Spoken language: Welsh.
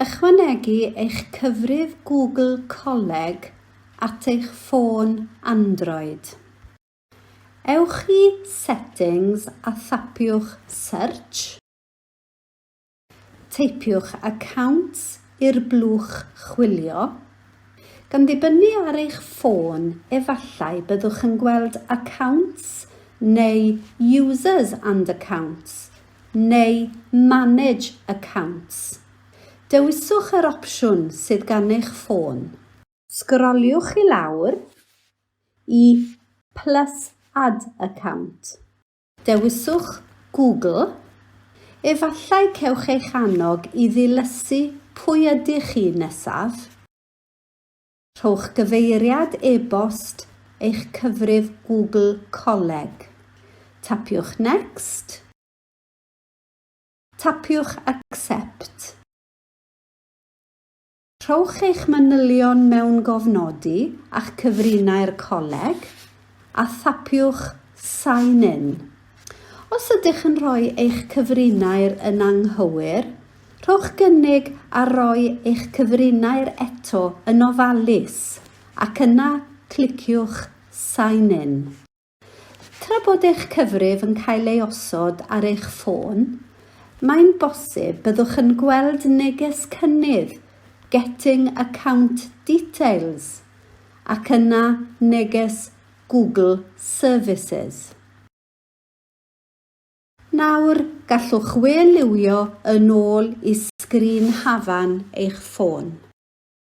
Ychwanegu eich cyfrif Google Coleg at eich ffôn Android. Ewch i Settings a thapiwch Search. Teipiwch Accounts i'r blwch chwilio. Gan ddibynnu ar eich ffôn, efallai byddwch yn gweld Accounts neu Users and Accounts neu Manage Accounts. Dewiswch yr opsiwn sydd gan eich ffôn. Sgroliwch i lawr i Plus Add Account. Dewiswch Google. Efallai cewch eich annog i ddilysu pwy ydych chi nesaf. Rhowch gyfeiriad e-bost eich cyfrif Google Coleg. Tapiwch Next. Tapiwch Accept. Rhowch eich manylion mewn gofnodi a'ch cyfrinair coleg, a thapiwch Sign In. Os ydych yn rhoi eich cyfrinair yn anghywir, rhowch gynnig ar roi eich cyfrinair eto yn ofalus, ac yna cliciwch 'Sign In'. Tra bod eich cyfrif yn cael ei osod ar eich ffôn, mae'n bosib byddwch yn gweld neges cynnydd 'Getting Account Details' ac yna neges 'Google Services'. Nawr, gallwch we liwio yn ôl i sgrin hafan eich ffôn.